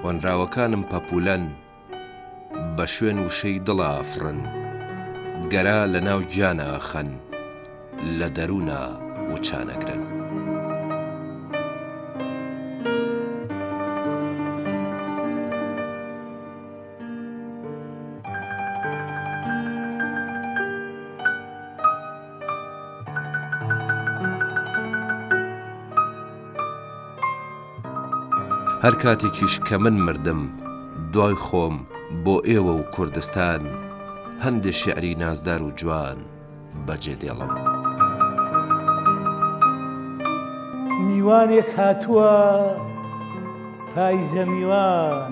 هۆنراوەکانم پەپولەن بە شوێن وشەی دڵا ئەفڕن گەرا لە ناو گیانا ئەخەن لە دەرونا وچان ئەگرن. هەر کاتێکیش کە من مردم دوای خۆم بۆ ئێوە و کوردستان هەندێ شعری نازدار و جوان بەجێ دێڵم. میوانێک هاتووە پایزە میوان.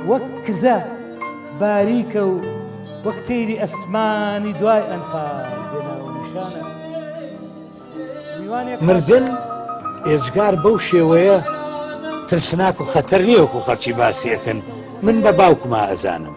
وەک کزە باریکە و وەک تەیری ئەسمانی دوای ئەنفال بێناوە نیشانە میوانێک مردن ئێجگار بەو شێوەیە ترسناک و خەتەر نییە وەکو خەڵکی باسی ئەکەن من بە باوکما ئەزانم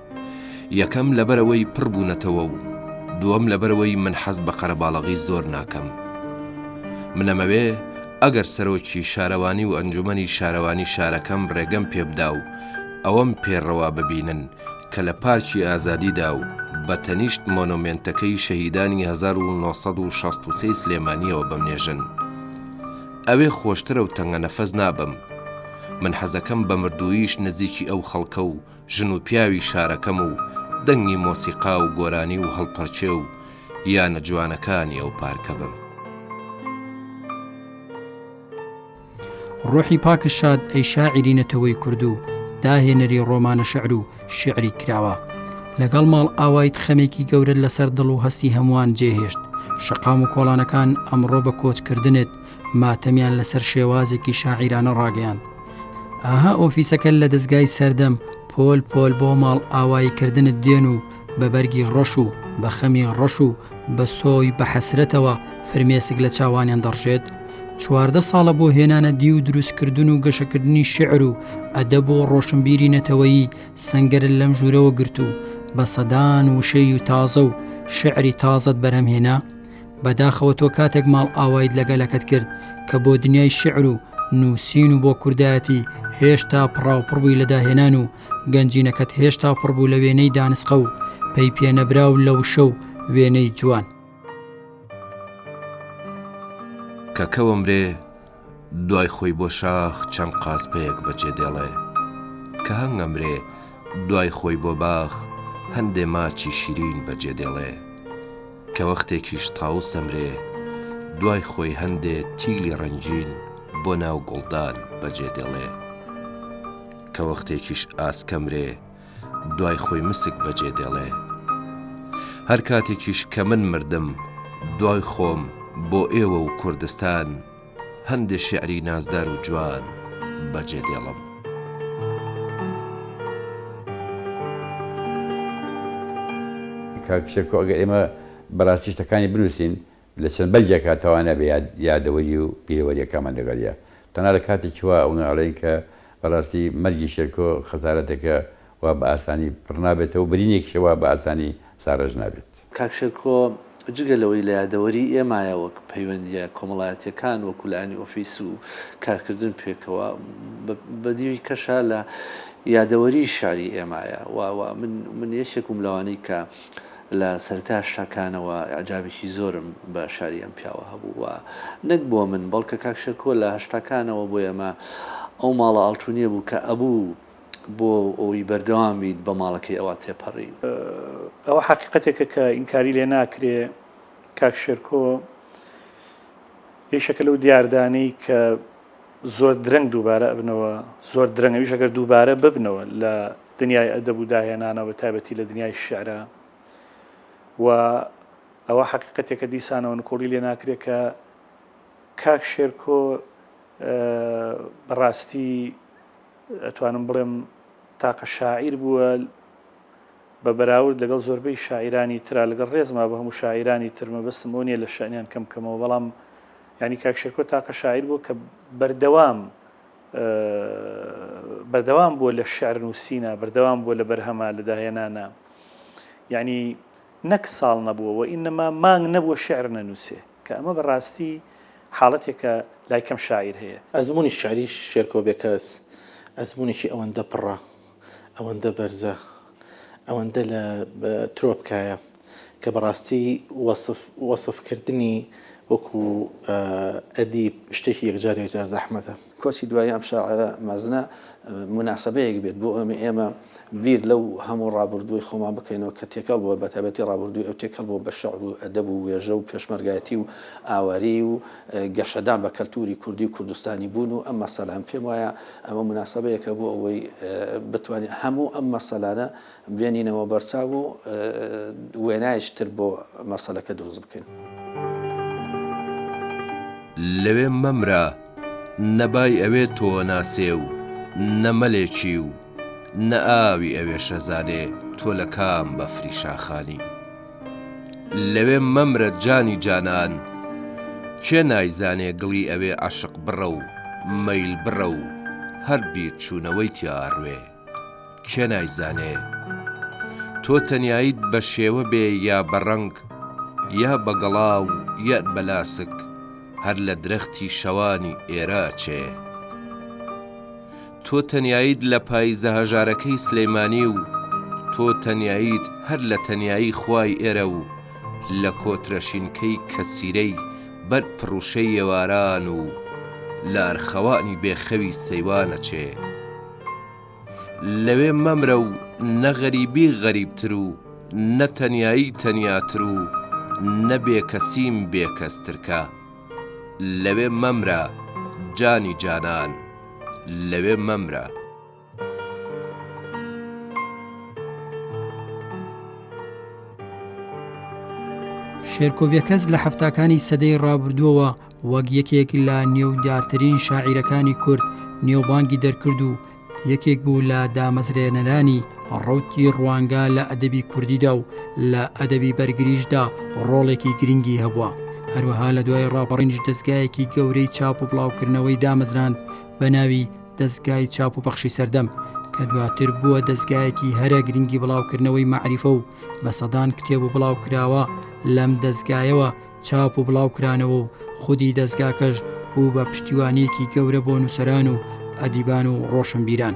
یەکەم لەبەرەوەی پڕ بوونەتەوە و دووەم لەبەرەوەی من حەز بە قەرەباڵەغی زۆر ناکەم. منەمەوێ ئەگەر سەرۆکی شارەوانی و ئەنجومەنی شارەوانی شارەکەم ڕێگەم پێ بدا و ئەوەم پێ ڕەوا ببینن کە لە پارکی ئازادیدا و بە تەنیشت مۆنۆمێنتەکەی شەهیدانی هەزار و نۆ سەد و شەست و سێی سلێمانییەوە بمنێژن ئەوێ خۆشترە و تەنگەنەفەس نابم. من حەزەکەم بە مردووییش نزیکی ئەو خەڵکە و ژن و پیاوی شارەکەم و دەنگی مۆسیقا و گۆرانی و هەڵپەڕکێ و یانە جوانەکانی ئەو پارکە بم. ڕۆحی پاک شاد ئەی شاعیری نەتەوەی کورد و داهێنەری ڕۆمانە شعر و شیعری کراوە. لەگەڵ ماڵ ئاوایت خەمێکی گەورەت لەسەر دڵ و هەستی هەمووان جێهێشت. شەقام و کۆڵانەکان ئەمڕۆ بە کۆچکردنت ماتەمیان لەسەر شێوازێکی شاعیرانە ڕاگەیاند ئاها ئۆفیسەکە لە دەستگای سەردەم پۆل پۆل بۆ ماڵ ئاوایی کردنت دێن و بە بەرگی ڕەش و بە خەمی ڕەش و بە سۆی بە حەسرەتەوە فرمێسک لە چاوانیان دەڕژێت چواردە ساڵە بۆ هێنانە دی و دروستکردن و گەشەکردنی شعر و ئەدە بۆ ڕۆشنبیری نەتەوەیی سنگەر لەم ژوورەوە گرت و بە سەدان وشەی و تازە و شعری تازەت بەرهەمهێنا بەداخەوە تۆ کاتێک ماڵئاوایت لە گەلەکەت کرد کە بۆ دنیای شعر و نووسین و بۆ کوردایەتی هێشتا پڕاوپڕ بووی لە داهێنان و گەنجینەکەت هێشتا پڕ بوو لە وێنەی دانسقە و پەی پێنەبرا و لە وشە و وێنەی جوان. کە کەوە مرێ دوای خۆی بۆ شاخ چەند قاسپەیەک بە جێ دێڵێ. کە هەنگ ئەمرێ دوای خۆی بۆ باخ هەندێ ماچی شیرین بە جێ دێڵێ. کە وەختێکیش تاوس ئەمرێ دوای خۆی هەندێ تیلی ڕەنگین بۆ ناو گوڵدان بە جێ دێڵێ. کە وەختێکیش ئاسک ئەمرێ دوای خۆی مسک بەجێ دێڵێ. هەر کاتێکیش کە من مردم، دوای خۆم بۆ ئێوە و کوردستان، هەندێ شیعری نازدار و جوان بەجێ دێڵم. کاک شێرکۆ ئەگەر ئێمە بەراستی شتەکانی بنووسین، لە چەند بەرگێکا تەوانە بێ یادەوەری و بیرەوەریەکانمان لەگەڵیە. تەنها لە کاتێکی وا ئەونە ئەڵێین کە بە ڕاستی مەرگی شێرکۆ خەسارەتێکە وا بە ئاسانی پڕ نابێتەوە و برینێکیشە وا بە ئاسانی ساڕێژ نابێت. کاک شێرکۆ جگە لەوەی لە یادەوەری ئێمایە وەک پەیوەندیە کۆمەڵایەتیەکان وەکو لایەنی ئۆفیس و کارکردن پێکەوە بە دیوی کەشا لە یادەوەری شیعری ئێمایە و من یەکێک بووم لەوانەی کە لە سەرەتای هەشتاکانەوە ئیعجابێکی زۆرم بە شاری ئەم پیاوە هەبوو و نەک بۆ من بەڵکە کاک شێرکۆ لە هەشتاکانەوە بۆ ئێمە ئەو ماڵە ئاڵتونیە بوو کە ئەبوو بۆ ئەوەی بەردەوام بیت بە ماڵەکەی ئەوا تێپەرین. ئەوە حەقیقەتێکە کە ئینکاری لێ ناکرێ کاک شێرکۆ یەکێکە لەو دیاردانەی کە زۆر درەنگ دووبارە ئەبنەوە زۆر درەنگ ئەویش ئەگەر دووبارە ببنەوە لە دنیای ئەدەب و داهێنانە بە تایبەتی لە دنیای شیعرا و ئەوە حەقیقەتێکە دیسانەوە نکۆڵی لێ ناکرێت کە کاک شێرکۆ بەڕاستی ئەتوانم بڵێم تاقە شاعیر بووە بە بەراورد لەگەڵ زۆربەی شاعرانی تررا لەگەڵ ڕێزما بە هەموو شاعرانی ترمە بەستم بۆ نیە لە شانیان کەم کەمەوە بەڵام ینی کاکشێکۆ تاقە شاعیر بوو کە بەردەوام بەردەوام بووە لە شعر نووسینە بەردەوام بووە لە بەرهەمە لە داهێنانە یعنی نەک ساڵ نەبووە و ئینەما مانگ نەبووە شعر نەنووسێ کە ئەمە بەڕاستی حاڵەتێکە لای کەم شاعیر هەیە. ئەزموونی شعری شێرکۆ بێکەس ئەزموونێکی ئەوەندە پڕە، ئەوەندە بەرزە ئەوەندە لە ترۆپکایە کە بەڕاستی وەسف وەسف کردنی وەکو ئەدیب شتێکی یەکجار یەکجار زەحمەتە. کۆچی دوایی ئەم شاعیرە مەزنە موناسەبەیەک بێت بۆ ئەوەی ئێمە بیر لەو هەموو ڕابوردووی خۆمان بکەینەوە کە تێکەڵ بووە بەتایبەتی ڕابوردووی ئەو تێکەڵ بووە بە شعر و ئەدەب و وێژە و پێشمەرگایەتی و ئاواری و گەشەدان بە کەلتووری کوردی و کوردستانی بوون و ئەم مەسەلان پێم وایە ئەمە مناسبەیەکە بۆ ئەوەی بتوانین هەموو ئەم مەسەلانە بێنینەوە بەرچاو و وێنایش تر بۆ مەسەلەکە دروست بکەین. لەوێ مەمرە نە بای ئەوێ تۆ ناسێ و نە مەلێکی و نە ئاوی ئەوێ شەزانێ تۆ لە کام بەفری شاخانی. لەوێ مەمرە جانی جانان کێ نایزانێ گڵی ئەوێ عەشق بڕە و مەیل بڕە و هەر بیرچوونەوەی تیا ئەڕوێ کێ نایزانێ تۆ تەنیاییت بە شێوە بێ یا بە ڕەنگ یا بە گەڵا و یا بە لاسک هەر لە درەختی شەوانی ئێرە ئەچێ. تۆ تەنیاییت لە پاییزە هەژارەکەی سلیمانی و تۆ تەنیاییت هەر لە تەنیایی خوای ئێرە و لە کۆترە شینکەی کەسیرەی بەرد پڕوشەی ئێواران و لە ئەرخەوانی بێ خەوی سەیوانەچێ لەوێ مەمرە و نە غەریبی غەریبتر و نە تەنیایی تەنیاتر و نە بێ کەسیم بێ کەسترکە لەوێ مەمرە جانی جانان. لەوێ مەمرە. شێرکۆ بێکەس لە حەفتاکانی سەدەی ڕابردووەوە وەک یەکێک لە نێودارترین شاعیرەکانی کورد نێوبانگی دەرکرد و یەکێک بوو لە دامەزرێنەرانی ڕەوتی ڕوانگە لە ئەدەبی کوردیدا و لە ئەدەبی بەرگریشدا ڕۆڵێکی گرنگی هەبووە هەروەها لە دوای ڕاپەڕینش دەستگایەکی گەورەی چاپ و بڵاوکردنەوەی دامەزراند بە ناوی دەستگای چاپ و پەخشی سەردەم کە دواتر بووە دەستگایەکی هەرە گرنگی بڵاوکردنەوەی مەعریفە و بە سەدان کتێب و بڵاوکراوە لەم دەستگایەوە چاپ و بڵاوکرانەوە و خودی دەزگاکەش بوو بە پشتیوانیەکی گەورە بۆ نووسەران و ئەدیبان و ڕۆشنبیران.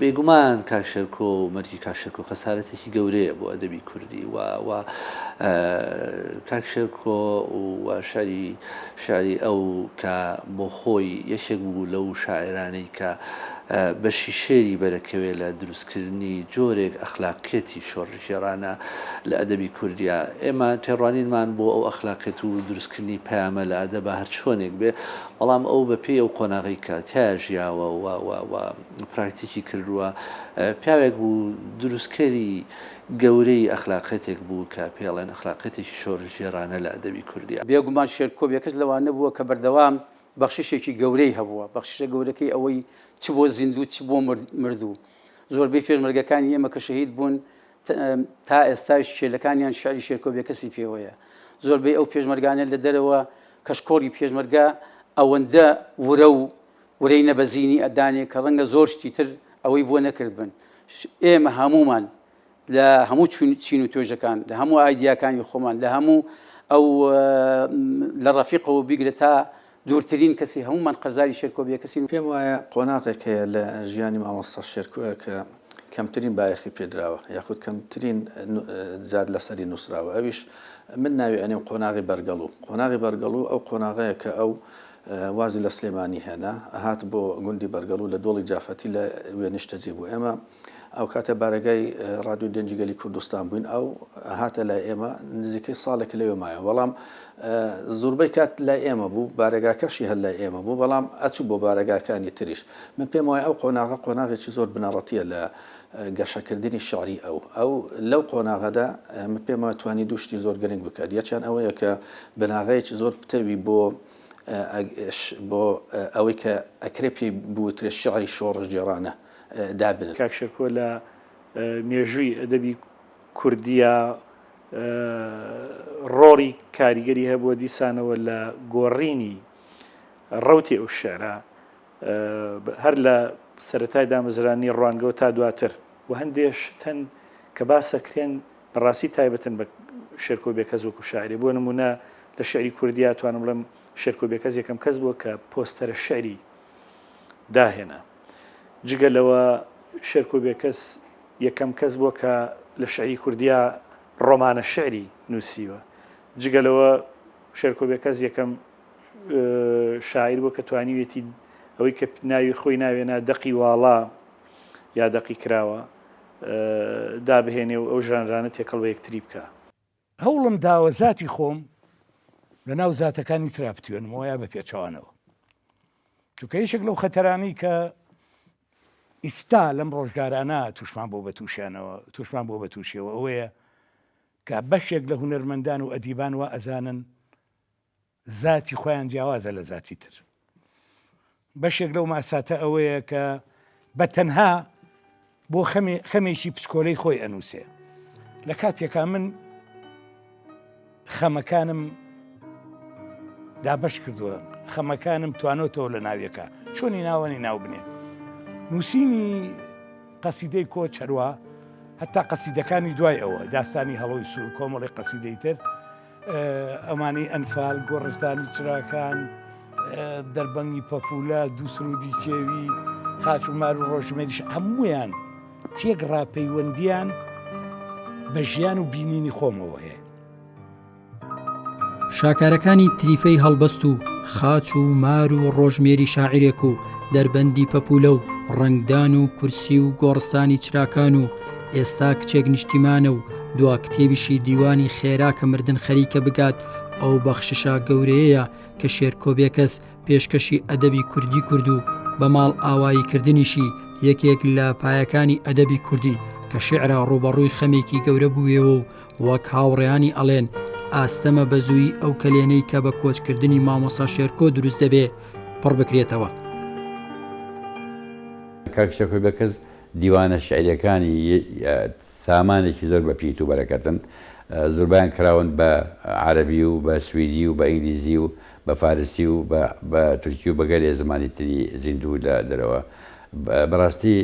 بێگومان کاک شێرکۆ و مەرگی کاک شێرکۆ خەسارەتێکی گەورەیە بۆ ئەدەبی کوردی و و کاک شێرکۆ و شاری شاری ئەو کە بۆ خۆی یەکێک بوو لەو شاعرانەی کە بەشی شێری بەرەکەوێ لە دروستکردنی جۆرێک ئەخلاقیەتی شۆڕشگێڕانە لە ئەدەبی کوردیا. ئێمە تێڕوانینمان بۆ ئەو ئەخلاقیەت و دروستکردنی پەیامە لە ئەدەبا هەرچۆنێک بێ، بەڵام ئەو بە پێی ئەو قۆناغەی کە تیایا ژیاوە و و و پراکتیکی کردووە، پیاوێک بوو دروستکەری گەورەی ئەخلاقیەتێک بوو کە پێی ئەڵێن ئەخلاقیەتێکی شۆڕشگێڕانە لە ئەدەبی کوردیا. بێگومان شێرکۆ بێکەس لەوانە بووە کە بەردەوام بەخششێکی گەورەی هەبووە، بەخششە گەورەکەی ئەوەی چ بۆ زیندوو چ بۆ مردوو، زۆربەی پێشمەرگەکانی ئێمە کە شەهید بوون تا ئێستاش کێلەکانیان شعری شێرکۆ بێکەسی پێوەیە، زۆربەی ئەو پێشمەرگانە لە دەرەوە کەشکۆڵی پێشمەرگە ئەوەندە ورە و ورەی نەبەزینی ئەدانێ کە ڕەنگە زۆر شتی تر ئەوەی بۆ نەکردبن، ئێمە هەموومان لە هەموو چین و توێژەکان لە هەموو ئایدیاکانی خۆمان لە هەموو ئەو لە ڕەفیقەوە بیگرە تا دوورترین کەسی هەمومان قەرزاری شێرکۆبیە کەسی پێم وایە قۆناغێک هەیە لە ژیانی مامۆستا شێرکوە کە کەمترین بایەخی پێدراوە یاخود کەمترین زیاد لەسەری نووسراوە ئەویش من ناوی ئەنێم قۆناغی بەرگەڵ و قۆناغی بەرگەڵ و ئەو قۆناغەیە کە ئەو وازی لە سلێمانی هێنا هات بۆ گوندی بەرگەڵ و لە دۆڵی جافەتی لە وێنیشتەجێ بوو ئێمە ئەو کاتە بارەگای ڕادیۆی گەنجی گەلی کوردستان بووین ئەو هاتە لای ئێمە نزیکەی ساڵێک لەوێ مایە بەڵام زۆربەی کات لای ئێمە بوو بارەگاکەشی هەر لای ئێمە بوو بەڵام ئەچوو بۆ بارەگاکانی تریش من پێم وایە ئەو قۆناغە قۆناغێکی زۆر بنەڕەتیە لە گەشەکردنی شعری ئەو ئەو لەو قۆناغەدا من پێم وایە توانی دوشتی زۆر گرنگ بکات یەکیان ئەوەیە کە بناغەیەکی زۆر پتەوی بۆ بۆ ئەوەی کە ئەکرێ پێی بوترێت شعری شۆڕژ جێرانە دابنن. کاک شێرکۆ لە مێژووی ئەدەبی کوردیا ڕۆڵی کاریگەری هەبووە دیسانەوە لە گۆڕینی ڕەوتی ئەو شعرە هەر لە سەرەتای دامەزرانی ڕوانگەوە تا دواتر و هەندێ شتن کە باسەکرێن بەڕاستی تایبەتن بە شێرکۆ بێکەس وەکو شاعری بۆ نمونە لە شعری کوردیا توانم بڵێم شێرکۆ بێکەس یەکەم کەس بووە کە پۆستەرە شعری داهێنا. جگە لەوە شێرکۆ بێکەس یەکەم کەس بووە کە لە شیعری کوردیا ڕۆمانە شیعری نووسیوە. جگە لەوە شێرکۆ بێکەس یەکەم شاعیر بووە کە توانیوێتی ئەوەی کە ناوی خۆی ناوێنا دەقی واڵا یا دەقی کراوە دابهێنێ و ئەو ژانرانە تێکەڵ بە یەکتری بکە. هەوڵم داوە زاتی خۆم لە ناو زاتەکانی ترا بتوێنمەوە یا بە پێچەوانەوە. چونکە یەکێک لەو خەتەرانەی کە ئیستا لەم ڕۆژگارانە تووشمان بۆ بە تووشیانەوە تووشمان بۆ بە تووشیەوە ئەوەیە کە بەشێک لە هونەرمەندان و ئەدیبان وا ئەزانن زاتی خۆیان جیاوازە لە زاتی تر. بەشێک لەو ماساتە ئەوەیە کە بە تەنها بۆ خەمێ خەمێکی پسکۆلەی خۆی ئەنووسێ لە کاتێکا من خەمەکانم دابش کردووە خەمەکانم توانۆتەوە لە ناویەکە چۆنی ناوەنی ناو بنێ نووسینی قەسیدەی کۆ چەروە هەتا قەسیدەکانی دوای ئەوە داستانی هەڵۆی سوور کۆمەڵی قەسیدەی تر ئەمانەی ئەنفال، گۆڕستانی چراکان، دەربەنگی پەپولە، دوو سرودی کێوی، خاچ و مار و ڕۆژمێریش هەمویان تێک ڕاپەیوەندیان بە ژیان و بینینی خۆمەوە هەیە. شاکارەکانی تریفەی هەڵبەست و خاچ و مار و ڕۆژمێری شاعرێک و دەربەندی پەپولە و ڕەنگدان و کورسی و گۆڕستانی چراکان و ئێستا کچێک نیشتیمانە و دوا کتێبیشی دیوانی خێرا کە مردن خەریکە بگات ئەو بەخششا گەورەیەیە کە شێرکۆ بێکەس پێشکەشی ئەدەبی کوردی کرد و بە ماڵ ئاوایی کردنیشی یەکێک لە پایەکانی ئەدەبی کوردی کە شعرا ڕوبەڕووی خەمێکی گەورە بووێەوە و وەک هاوڕێیانی ئەڵێن ئاستەمە بە زووی ئەو کەلێنەی کە بە کۆچکردنی مامۆسا شێرکۆ دروست دەبێ پڕ بکرێتەوە. کاک شێرکۆ بێکەس دیوانە شیعریەکانی سامانێکی زۆر بە پیت و بەرەکەتن، زوربەیان کراون بە عەرەبی و بە سویدی و بە ئینگلیزی و بە فارسی و بە تورکی و بە گەلێ زمانی تری زیندوو لە دەرەوە. بەڕاستی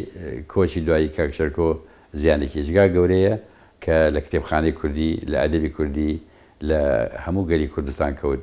کۆچی دوایی کاک شێرکۆ زیانێکی جگا گەورەیە کە لە کتێبخانەی کوردی، لە ئەدەبی کوردی، لە هەموو گەلی کوردستان کەوت.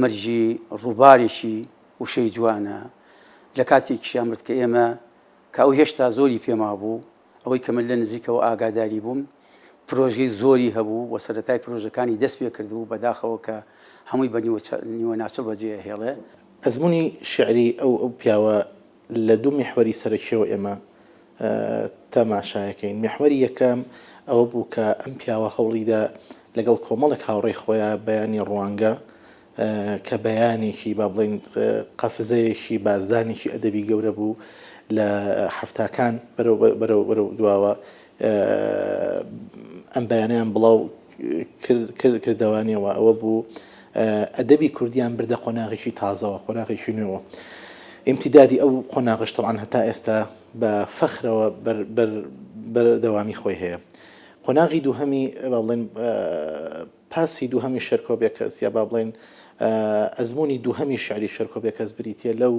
مەرگی ڕووبارێکی وشەی جوانە لە کاتێکیشیان مرد کە ئێمە کە ئەو هێشتا زۆری پێما بوو ئەوەی کە من لە نزیکەوە ئاگاداری بووم پرۆژەی زۆری هەبوو و سەرەتای پرۆژەکانی دەست پێ کرد و بەداخەوە کە هەمووی بە نیوە ناچە بەجێ هێڵێ ئەزمونی شعری ئەو ئەو پیاوە لە دوو میحوەری سەرەکیەوە ئێمە تەماشایەکەین، میحوەری یەکەم ئەوە بوو کە ئەم پیاوە هەوڵیدا لەگەڵ کۆمەڵێک هاوڕێی خۆیا بەیانی ڕوانگە کە بەیانێکی با بڵین قەفزەیەکی بازدانێکی ئەدەبی گەورە بوو لە حەفتاکان بەرەو دواوە ئەم بەیانەیان بڵاو کردەوانیەوە ئەوە بوو ئەدەبی کوردیان بردە قۆناغیی تازەوە قۆناغیی نوێوە ئیمتیدادی ئەو قۆناغش تەوان هەتا ئێستا بە فەخرەوە بەردەوامی خۆی هەیە قۆناغی دووهەمی بەڵێن پاسی دووهەمی شێرکۆ بێکەس یا با بڵێین ئەزموونی دووهەمی شیعری شێرکۆ بێکەس بریتییە لەو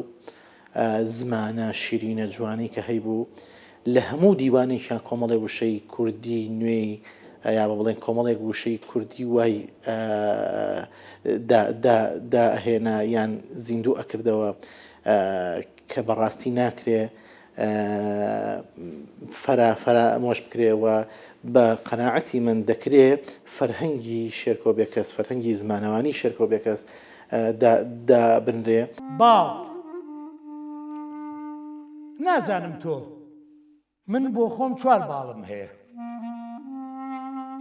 زمانە شیرینە جوانەی کە هەیبوو، لە هەموو دیوانێکیان کۆمەڵێ وشەی کوردی نوێی یا با بڵێین کۆمەڵێک وشەی کوردی وای دائەهێنا یان زیندوو ئەکردەوە کە بەڕاستی ناکرێ فرە فەرامۆش بکرێ و بە قەناعەتی من دەکرێ فەرهەنگی شێرکۆ بێکەس، فەرهەنگی زمانەوانی شێرکۆ بێکەس دا دابنرێ. باڵ، نازانم تۆ، من بۆ خۆم چوار باڵم هەیە.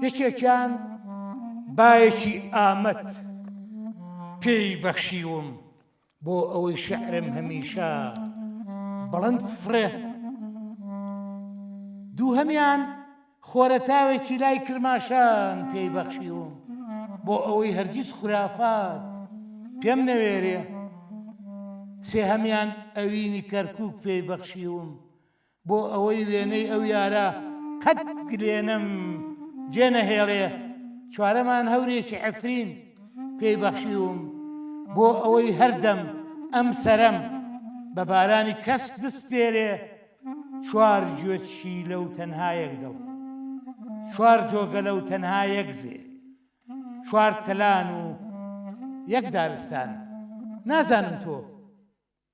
یەکێکیان بایەکی ئامەد پێی بەخشیوم بۆ ئەوەی شعرم هەمیشە بڵند فڕێ دوو هەمیان خۆرەتاوێکی لای کرماشان پێی بەخشیوم بۆ ئەوەی هەرگیز خورافات پێم نەوێرێ سێ هەمیان ئەوینی کەرکک پێی بەخشیوم بۆ ئەوەی وێنەی ئەو یارە قەت گلێنەم جێ نەهێڵێ چوارەمان هەورێکی عفرین پێی بەخشیوم بۆ ئەوەی هەردەم ئەم سەرەم بە بارانی کەس بسپێرێ چوار گوێچی لەو تەنهایەک دڵ چوار جۆگە لەو تەنها یەک زێ چوار تەلان و یەک دارستان نازانم تۆ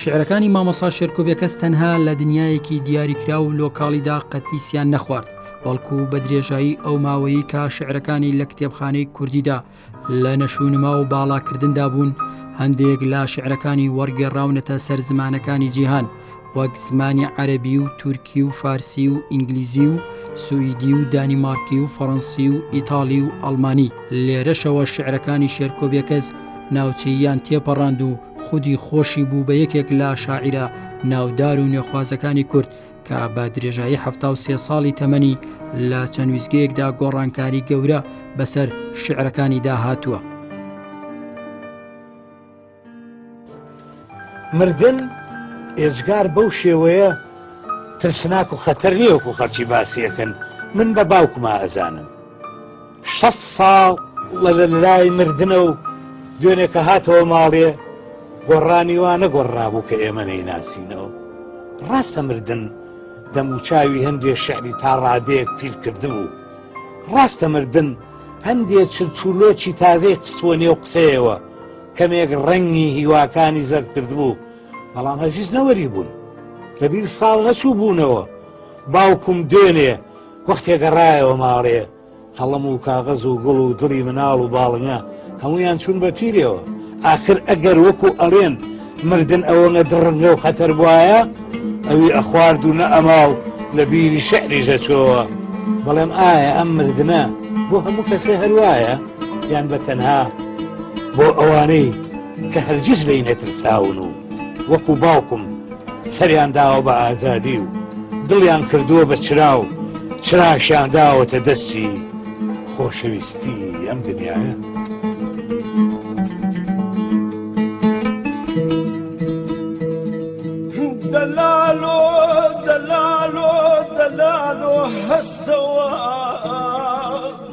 شیعرەکانی مامۆسا شێرکۆ بێکەس تەنها لە دنیایەکی دیاریکراو و لۆکاڵیدا قەتیسیان نەخوارد، بەڵکو بە درێژایی ئەو ماوەیەی کا شیعرەکانی لە کتێبخانەی کوردیدا لە نەشونما و باڵاکردندا بوون، هەندێک لە شیعرەکانی وەڕگێڕراونەتە سەر زمانەکانی جیهان، وەک زمانی عەرەبی و تورکی و فارسی و ئینگلیزی و سوئیدی و دانیمارکی و فەڕەنسی و ئیتاڵی و ئەڵمانی. لێرەشەوە شیعرەکانی شێرکۆ بێکەس ناوچەییان تێپەڕاند و خودی خۆشی بوو بە یەکێک لە شاعیرە ناودار و نوێخوازەکانی کورد کە بە درێژایی حفتا و سێ ساڵی تەمەنی لە چەند ویزگەیەکدا گۆڕانکاری گەورە بەسەر شعرەکانی داهاتووە. مردن ئێجگار بەو شێوەیە ترسناک و خەتەر نییە وەکو خەرچی باسیەکەن من بە باوکما ئەزانم. شەست ساڵ لە لە لای مردنە و دوێنێ کە هاتەوە ماڵێ گۆڕانی وا نەگۆڕرابوو کە ئێمە نەیناسینەوە. ڕاستە مردن دەموچاوی هەندێ شعری تا ڕادەیەک پیر کردبوو. ڕاستە مردن هەندێ چرچولۆچی تازەی قسووە نێو قسەیەوە کەمێک ڕەنگی هیواکانی زەرد کردبوو، بەڵام هەرگیز نەوەری بوون. لە بیر ساڵ نەچوو بوونەوە. باوکم دوێنێ وەختێ گەڕایەوە ماڵێ، قەڵەم و کاغەز و گوڵ و دڵی مناڵ و باڵنگە هەمویان چوون بە پیرەوە ئاخر ئەگەر وەکو ئەڵێن مردن ئەوەنە دڕنگە و خەتەر بواە ئەوی ئەخوارد و نە ئەما و لە بیری شعریژە چۆوە بەڵێم ئایا ئەم مردە بۆ هەموو کەسێ هەروایە یان بە تەنها بۆ ئەوانەی کە هەرگیز لی نەترساون و وەکو باوکم سەریان داوە بە ئازادی و دڵیان کردووە بە چراو چراشیان داوەتە دەستی خۆشەویستی ئەم دنیاە. دەلالۆ دەلالۆ دەلالۆ هەستەوە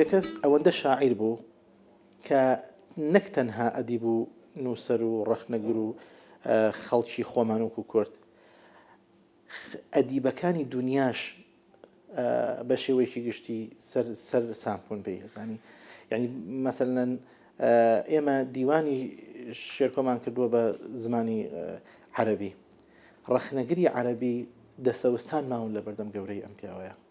بێکەس ئەوەندە شاعیر بوو کە نەک تەنها ئەدیب و نووسەر و ڕەخنەگر و خەڵکی خۆمانوک و کورد خە ئەدیبەکانی دونیاش ئە بە شێوەیەکی گشتی سەر سەر سام بوون پێی ئەزانی یانی مەسەلەن ئە ئێمە دیوانی شێرکۆمان کردووە بە زمانی عەرەبی ڕەخنەگری عەرەبی دەسەوستان ماون لە بەردەم گەورەی ئەم پیاوەیە.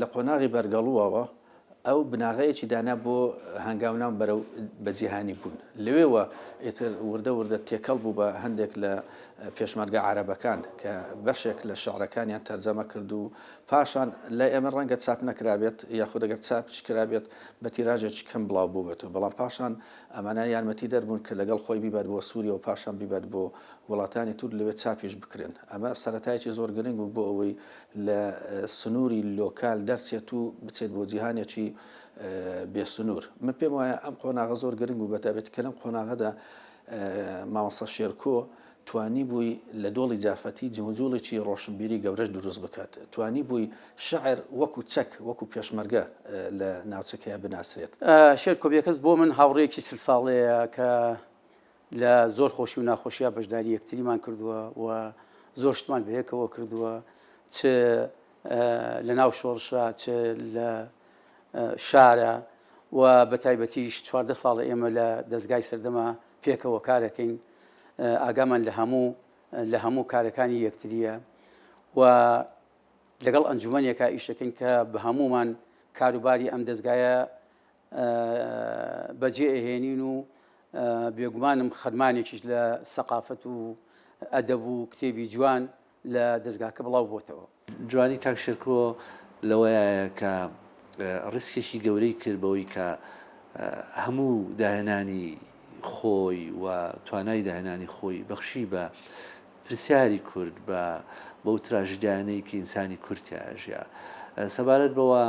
لە قۆناغی بەرگەڵووەوە ئەو بناغەیەکی دانا بۆ هەنگاوناو بەرەو بە جیهانی بوون لەوێوە ئیتر وردە وردە تێکەڵ بوو بە هەندێک لە پێشمەرگە عربەکان کە بەشێک لە شعرەکانیان تەرجەمە کرد و پاشان لە ئێمە ڕەنگە چاپ نەکرابێت یاخود دەگەر چاپچ کرابێت بە تیراژێکی کەم بڵاو بوو بێت و بەڵام پاشان ئەمانە یارمەتی دەربوون کە لەگەڵ خۆی بیبات بۆ سووریە و پاشان بیبات بۆ وڵاتانی تور لەوێ چاپیش بکرێن ئەمە سەرەتایکی زۆر گرنگ بوو بۆ ئەوەی لە سنووری لۆکال دەرچێت و بچێت بۆ جیهانێکی بێ سنوور. من پێم وایە ئەم قۆناغە زۆر گرنگ بوو، بەتایبەتی کە لەم قۆناغەدا مامۆستا شێرکۆ توانیبووی لە دۆڵی جافەتی جموجوڵێکی ڕۆشنبیری گەورەش دروست بکات، توانیبووی شعر وەکو چەک، وەکو پێشمەرگە لە ناوچەکەیا بناسرێت. شێرکۆ بێکەس بۆ من هاوڕێیەکی چل ساڵەیە کە لە زۆر خۆشی و ناخۆشیە بەشداری یەکتریمان کردووە و زۆر شتمان بەیەکەوە کردووە چ لە ناو شۆڕشە چ لە شارە و بە تایبەتیش چواردە ساڵە ئێمە لە دەستگای سەردەما پێکەوە کارەکەین ئاگامان لە هەموو لە هەموو کارەکانی یەکتریە و لەگەڵ ئەنجومەنێکە ئیشەکەین کە بە هەمومان کاروباری ئەم دەستگایە بەجێ ئەهێنین و بێگومانم خەرمانێکیش لە سەقافەت و ئەدەب و کتێبی جوان لە دەستگاکە بڵاو بۆتەوە. جوانی کاک شێرکۆ لەوەیە کە ڕیسکێکی گەورەی کرد بەوەی کە هەموو داهێنانی خۆی و توانای داهێنانی خۆی بەخشی بە پرسیاری کورد، بە بەو تراژیدیانەی کە ئینسانی کورد تیایا ژیا. سەبارەت بەوە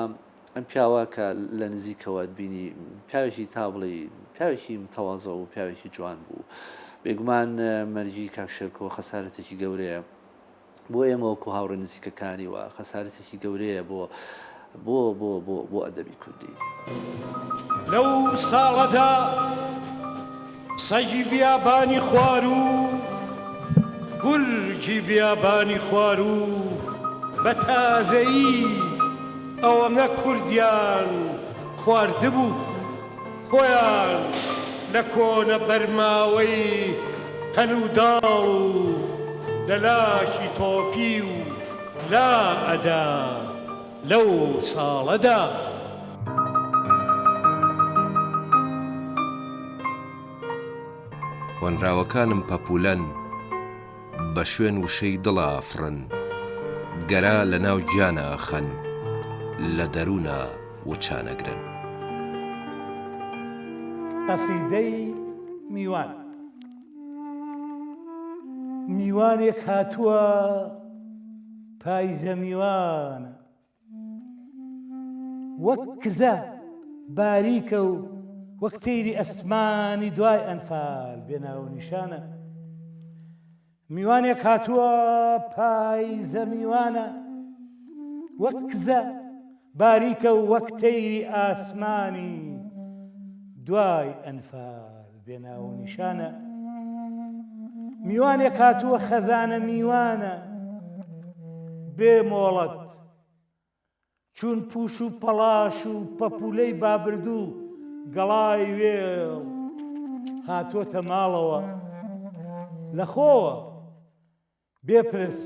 ئەم پیاوە کە لە نزیکەوەت بینی پیاوێکی تا بڵێی پیاوێکی متەواضع و پیاوێکی جوان بوو. بێگومان مەرگی کاک شێرکۆ خەسارەتێکی گەورەیە بۆ ئێمە وەکو هاوڕێ نزیکەکانی و خەسارەتێکی گەورەیە بۆ بۆ بۆ بۆ بۆ ئەدەبی کوردی. لەو ساڵەدا. سەگی بیابانی خواروو و گورگی بیابانی خواروو بە تازەیی ئەوەنە کوردیان خواردبوو، خۆیان لە کۆنە بەرماوەی قەل و داڵ و لە لاشی تۆپیو لا ئەدا. لەو ساڵەدا. هۆنراوەکانم پەپولەن بە شوێن وشەی دڵ ئافڕن گەرا لە ناو گیانا ئەخەن لە دەرونا وچان ئەگرن. قەسیدەی میوان میوانێک هاتووە. پایزە میوانە وەک کزە باریکە و وەک تەیری ئەسمانی دوای ئەنفال بێناو نیشانە میوانێک هاتووە پایزە میوانە وەک کزە باریکە و وەک تەیری ئاسمانی دوای ئەنفال بێ ناوونیشانە میوانێک هاتووە خەزانە میوانە بێ مۆڵەت چون پوش و پەڵاش و پەپولەی بابردوو گەڵای وێ هاتۆتە ماڵەوە لەخۆوە بێپرس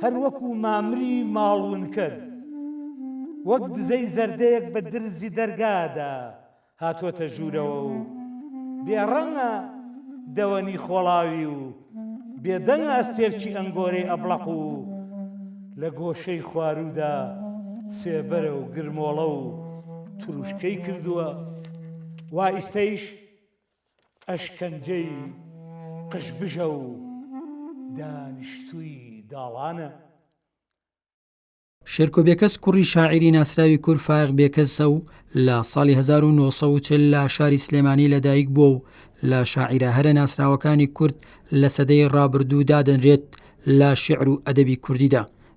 هەر وەکوو مامری ماڵونکەر، وەک دزەی زەردەیەک بە درزی دەرگادا هاتووەتە ژوورەوە و بێڕەنگە دەوەنی خۆڵاوی و بێدەنگە ئەستێرکی ئەنگۆرەی ئەبڵەق و لە گۆشەی خواروودا سێبەرە و گرمۆڵە و تروشکەی کردووە، وا ئیستەیش ئەشکەنجەی قژبژە و دانیشتووی داڵانە. شێرکۆ بێکەس کوڕی شاعیری ناسراوی کورد فایەق بێکەسە و لە ساڵی 1940 لە شاری سلێمانی لەدایک بووە و لە شاعیرە هەرە ناسراوەکانی کورد لە سەدەی ڕابردوو دادەنرێت لە شیعر و ئەدەبی کوردیدا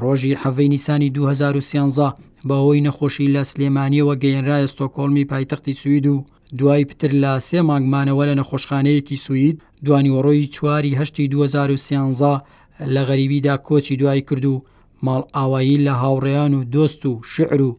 ڕۆژی حەڤی نیسانی 2013 بەهۆی نەخۆشی لە سلێمانیەوە گەیەنرایە ستۆکۆڵمی پایتەختی سوید و دوای پتر لە سێ مانگمانەوە لە نەخۆشخانەیەکی سوید دوانیوەڕۆی چواری هەشتی 2013 لە غەریبیدا کۆچی دوای کرد و ماڵ ئاوایی لە هاوڕێیان و دۆست و شعر و